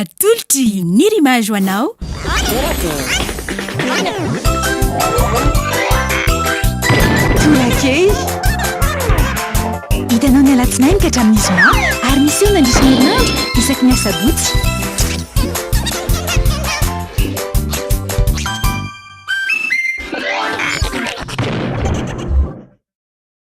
Atolotry ny Rimage ho anao. Tolakely. Hitanao ny alatsinainy ka hatramin'ny zoma ary miseho mandritra ny herinandro isaky ny asabotsy.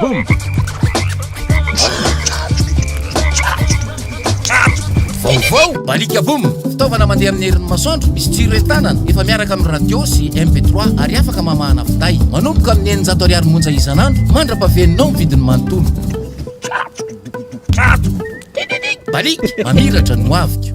Boom! Vaovao, Balika Boom, fitaovana mandeha amin'ny herin'ny masoandro, misy jiro entanana, efa miaraka amin'ny radio sy MP3 ary afaka mamahana finday. Manomboka amin'ny eninjato ariary monja isan'andro mandra-pahaveninao ny vidiny manontolo. Balika, mamiratra ny hoaviko.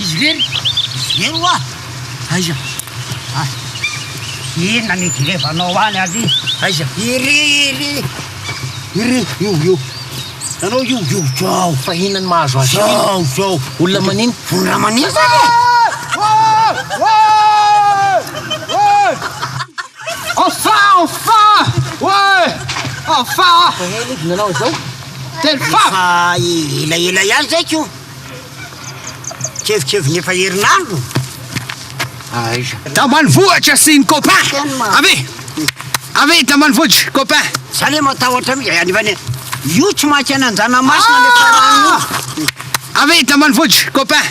Izy irery? Izy irery oa? Aiza? Ay, inona ny hijerevanao any ary? Aiza? Iry, iry, iry, io, io. Ianao io, io, zao. Fa inona ny mahazo azy io? Zao, zao. Olona manino? Olona manino zany e! Oay! Oay! Oay! Enfin! Enfin! Ouais! Enfin! Ehe lody nanao izao Telo fa! Efa elaela ihany izay ko Kevikeviny efa herinandro Aiza Tambanivohitra sy ny copain Tena ma- Avy Avy i Tambanivohitra copain Za le matahotra mihitsy any vane Io tsy mankena anjanamasina le farany io Avy i Tambanivohitra copain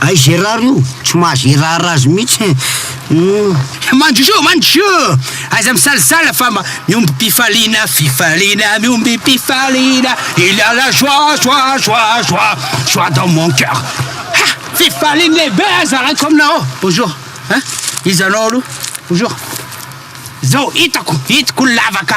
Ay Gérard io tsy maha Gérard azy mihitsy e! Hum. Mandroso mandroso! Aza misalasala fa mba miombim-pifaliana fifaliana miombim-pifaliana Il y a la joie joie joie joie joie dans mon cœur Ha! Fifaliana lehibe aza alaiko aminao ao! Bonjour! Hein? Iza anao aloha? Bonjour! Zao hitako hitako ny lavaka!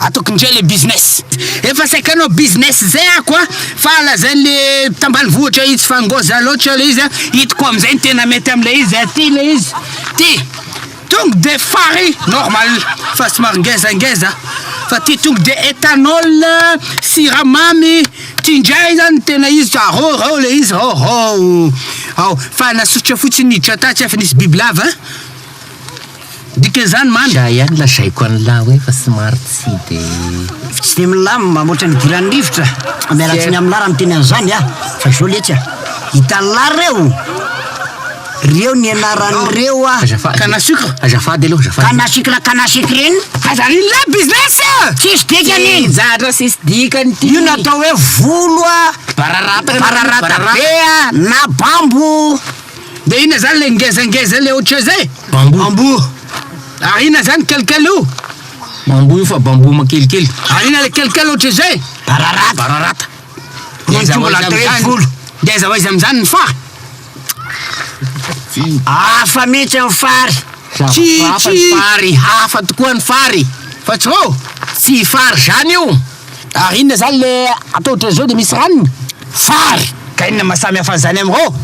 Ataoko indray le business. Efa saiky hanao business zay ako a, fa lazainy le tambanivohitra izy fa ngoja loatra le izy a, hitako amizay ny tena mety amle izy a, ty le izy ty tongue de fary normal fa somary ngezangeza, fa ty tongue de ethanol siramamy ty ndray zany tena izy ka rô rô le izy rô rô, ao fa nasosotra fotsiny niditra tatsy fa nisy bibilava. Dikan'izany man. Za ihany lazaiko an'lah hoe fa somary tsy de. Tsy de milamina hoatra ny hidiran'ny rivotra. Miala tsiny amin'lah raha miteny an'izany ah. Fa izao letsy ah. Hitan'lah ireo. Reo ny anaran'ireo ah. Azafady. Canne à sucre. Azafady aloha azafady. Canne à sucre la canne à sucre inn. Aza anin'lah business a! Tsisy dikany iny. Tsy zatra sisy dikany ty. Io natao hoe volo ah. Bararata. Bararata be ah na bambo. De inona zany le ngezangeza le ohatry zay? Bamboo. Bamboo. Ary inona zany kelikely io? Bamboo io fa bamboo makelikely. Ary inona le kelikely ohatry zay? Bararata. Bararata. De aiza ho aiza amizany? De aiza ho aiza amizany ny fary? Hafa mihitsy ny fary. Tsy tsy. Hafa ny fary, hafa tokoa ny fary. Fa tsy vao? Tsy fary zany io. Ary inona zany le atao otrany zao de misy ranony? Fary! Ka inona maha samy hafa an'izany amin'ireo?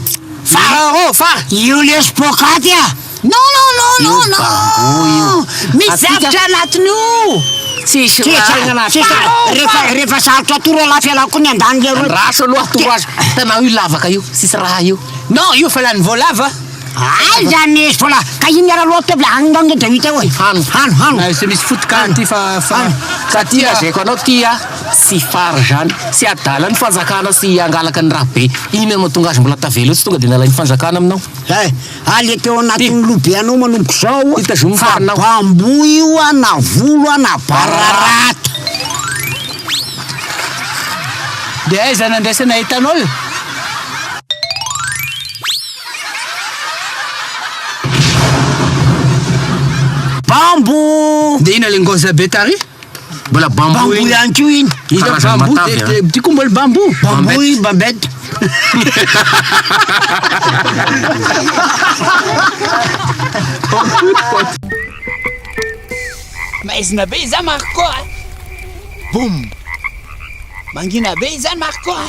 Fary ireo! Fary! Io lesy poakaty a! Non non non non non! Misy zavtra anatiny io! Tsisy raha! Tsisy raha na tsisy raha! Rehefa rehefa sarotra atoro aloha fialako koa ny andaniny leroa! Andraso aloha atoro azy! Hitanao io lavaka io! Tsisy raha io! Non io fa lany voalavo a! Aiza ny sola ka iny ara loha table any ndao nge deuite oe hano hano hano na se misy foot ka ty fa fa ka ty lazaiko anao ty a tsy fara zany tsy adala ny fanjakana sy angalaka ny raha be iny no matonga azy mbola tavela eo tsy tonga de nalainy fanjakana aminao eh ah le teo anatin'ny loha be anao manomboka zao ty tazomy fa anao fa bamboa io a na volo a na bararata de aiza nandraisana etanol. Bamboo! Dia inona ilay ngozi be tary? Mbola bamboo Bamboo iny. ihany koa iny. Iza Karazana bamboo matavy, dia- dia- ty koa mbola bamboo. Bamboo i Babette. Maizina be izany Marco a! Boum! Mangina be izany Marco a!